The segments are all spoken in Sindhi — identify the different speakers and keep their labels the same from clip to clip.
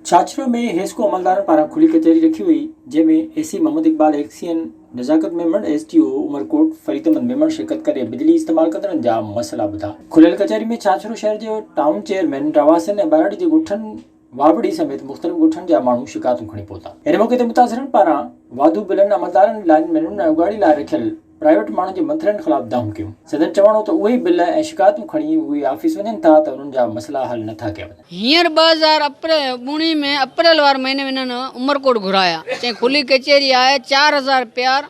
Speaker 1: ڇاڇرو ۾ حيسڪو عملدارن پاران کلي ڪچهري رکي وئي، جنهن ۾ A C Muhammad Iqbal XEN, Nazakat Memon, S D O Umerkot Farid Ahmed Memon شرڪت ڪري بجلي استعمال ڪندڙن جا مسئلا ٻڌا. کليل ڪچهري ۾ ڇاڇرو شهر جي ٽائون چيئرمين رهواسين ۽ ٻهراڙي جي ڳوٺن واوڙي سميت مختلف ڳوٺن جا ماڻهو شڪايتون کڻي پهتا. ان موقعي تي متاثرن پاران واڌو بلن، عملدارن، لائن مينن ۽ اڳواٽي لاء رکيل پرائيويٽ ماڻهن جي منٿلين خلاف دانهون ڪيون. سندن چوڻ هو ته اهي ئي بل ۽ شڪايتون کڻي اهي آفيس وڃن ٿا ته انهن جا مسئلا حل نه ٿا ڪيا وڃن. هينئر ٻه هزار
Speaker 2: ٻوڙهن ۾ اپريل واري مهيني ۾ انهن عمرڪوٽ گهرايا، چين کلي ڪچهري آهي، چار هزار پيار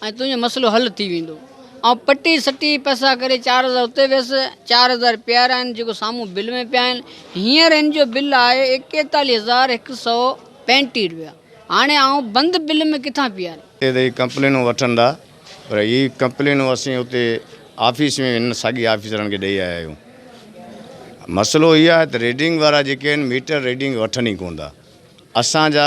Speaker 2: ۽ تنهنجو مسئلو حل ٿي ويندو. آئون پٽي سٽي پئسا ڪري چار هزار اتي ويس، چار هزار پيارا آهن جيڪو سامهون بل ۾ پيا آهن. هينئر هن جو بل آهي ايڪيتاليهه هزار هڪ سؤ پنجٽيهه روپيا. هاڻي آئون بند بل ۾ ڪٿان پياريان؟ اتي ته هي ڪمپلينون
Speaker 3: وٺن ٿا پر هي ڪمپلينون اسين اتي آفيس ۾ هنن ساڳي آفيسرن کي ڏئي آيا آهيون. مسئلو هي آهي ته ريڊنگ وارا جيڪي آهن ميٽر ريڊنگ وٺن ئي ڪونه ٿا. اسان جا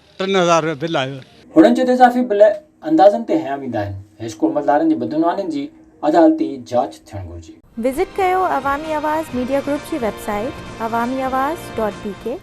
Speaker 4: ٽن هزار رپيا بل آيو. هنن چيو ته اضافي بل
Speaker 1: اندازن تي هنيا ويندا آهن، حيسڪو عملدارن جي بدعنوانين جي عدالتي جاچ ٿيڻ گهرجي. وزٽ ڪيو
Speaker 5: عوامي آواز ميڊيا گروپ جي web
Speaker 1: site
Speaker 5: Awami Awaz dot بي ڪي.